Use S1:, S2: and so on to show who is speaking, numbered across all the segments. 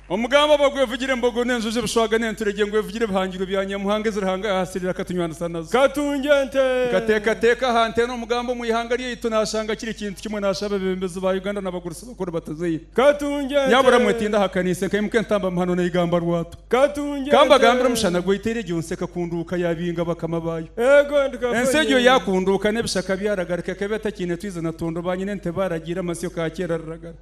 S1: Omugambo ogwo gwevugire embogo n'enjojo, ebishwaga n'enturegye, ngwevugire ebihangirwe bya Nyamuhanga ezi Ruhanga yaahasirira akatunywanisa nazo. Katungye ente.
S2: Nkateekateeka aha
S1: nte n'omugambo omu ihanga ryaitu naashanga kiri kintu kimwe naashaba abeebembezi ba Uganda n'abagurusi bakuru batuzaire. Katungye ente. Nyabura
S2: mwetinda aha
S1: kaniise nkaimuka entamba muhano naigamba rwatu. Katungye ente. Kambagambire
S2: omushana
S1: gwaitere egyo nsi ekakunduuka yaabinga bakama baayo. Eego ndikafa Ensi
S2: egyo nyeena. yaakunduuka
S1: n'ebishaka byaragarika ekaba etakiine twizi na tondo, baanyina ente baaragiire amasyo kaakyera riragara.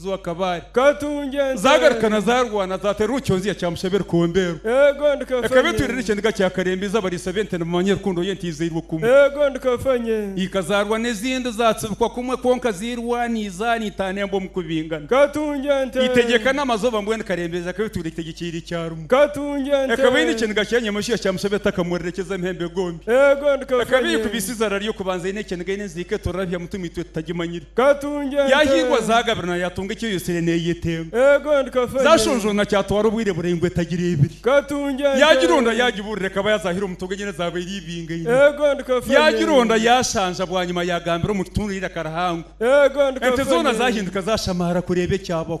S1: Zwa Kabale.
S2: Zaagaruka na zaarwana
S1: zaateera omu kyonzya kya Mushaba e Rukombeeru. Ekaba
S2: etwirire ekyendiga kya
S1: Karembizi abariisa b'ente nibamanya rukundo y'ente eizairwe kumwe.
S2: Ika zaarwa n'ezindi
S1: zaatsibikwa kumwe kwonka ziirwana eizaana eitaano emba omu kubingana.
S2: Eitegyeka n'amazooba
S1: mbwenu Karembeezi akaba etwirire eitegyekyire ikya rimwe. Ekaba
S2: eine ekyendiga kya
S1: Nyamashwiha kya Mushaba etakamuurire eky'eza Mpembe Gombi. Ekaba
S2: eyeekubise eizaara
S1: ry'okubanza eine ekyendiga eine enziika eturabya muti omu itwe tutagimanyire.
S2: Yaahingwa zaagabirwa
S1: na yaatunga eki eyotsire neeyete.
S2: Zaashonjoona kyatwara
S1: obwire buraingwa etagireebire. Yaagironda
S2: yaagibuurira
S1: ekaba yazaahire omu toogo enyene zaaba eri ibingaine.
S2: Yaagironda yaashanja
S1: bwanyima yaagambira omu kitundu eiraka rihango. Ente
S2: zoona zaahinduka
S1: zaashamaara kureeba ekyabaho.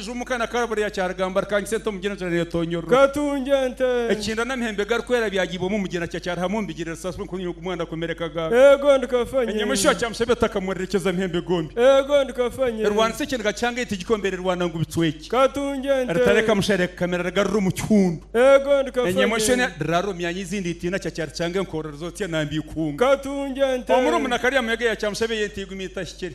S1: Enju omu ka na ka buriya kyarigamba rikangisa ente omugyera enjura netonyorora. Katungya ente.
S2: Ekikinda n'amahembe
S1: garikwera byagiibwamu omugyera kya kyarihamu omubigyere risaaswa nkoonyo y'ogu mwana akomerekaga. Eego ndi kafanye.
S2: Enyamaishwa kya mushabe
S1: etakamurerekyeza amahembe gombi. Eego ndi kafanye.
S2: Erwanisa ekiniga kyanga
S1: ente gikomba erirwana ngu bicweki. Katungya ente. Eritareka
S2: mushare kukamera
S1: rigarura omu kihundu. Eego ndi kafanye. Enyamaishwa
S2: ena riraara omu
S1: myanya ezindi itiina kya kyaricanga enkoorro rizotsya nambya eikunga. Katungya ente.
S2: Omurumunakarya muyaga
S1: ya kyamushabe y'ente eigumi etahikire.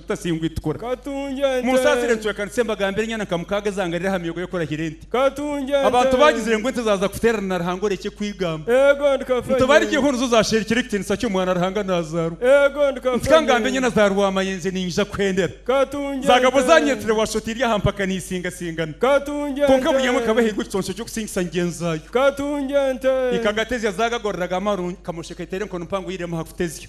S1: Tutasingwa itukora.
S2: Munsaasire ncwekanise
S1: mbagambire enyana nka mukaaga ezaangarire aha miyogo y'okurahira ente. Abantu
S2: baagizire ngu
S1: ente zaaza kuteerana na Ruhanga orekye kwigamba.
S2: Ntubarigyeho nizo zaasherukire
S1: ekitiinisa ky'omwana Ruhanga naazaarwa. Nti ka
S2: ngambe enyana za
S1: rwamayenje niinyija kuhendera. Zaagabwa
S2: zaanyeetire
S1: waashusha oti eri aha mpaka niisingasingana. Kwonka buri
S2: emwe ekaba ehairwe
S1: ekiconco ky'okusingisa ngyenzi zaayo.
S2: Ikagata ezya
S1: zaagagoreraga amaru, kamosheka eteera enkono mpango yairemu aha kutezya.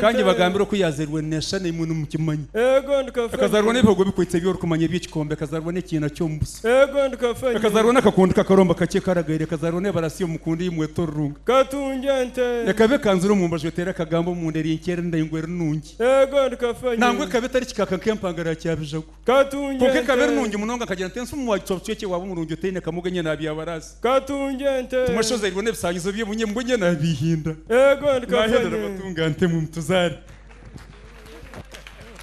S1: Ka
S2: ngibagambire oku yaazairwe
S1: neesha na imwe nimukimanya. Akazaarwa
S2: n'ebihogo bikwitse
S1: eby'orikumanya eby'ekikombe, akazaarwa n'ekiina ky'omu buso, akazaarwa
S2: n'akakundu k'akaromba
S1: kakye karagaire, akazaarwa n'ebarasi y'omu mukundu ei mweta orurunga.
S2: Ekaba ekanzire omu mbaju
S1: eteera akagambo omunda eri nkye eri ndaingwa eri nungi,
S2: nangwa ekaba etari kikaaka
S1: nk'empangara ya kyabijagu. Kwonka ekaba
S2: eri nungi munonga,
S1: nkagira nti, Ensi omu wa kicwabu kicwekye waaba omurungi otaine kamoga enye naabyabaraasi. Timwe
S2: ashozairwe n'ebishangizo bye,
S1: obunye mbwe enye
S2: naabihinda.
S1: Naahendera
S2: batunga
S1: nte mu mituzaare.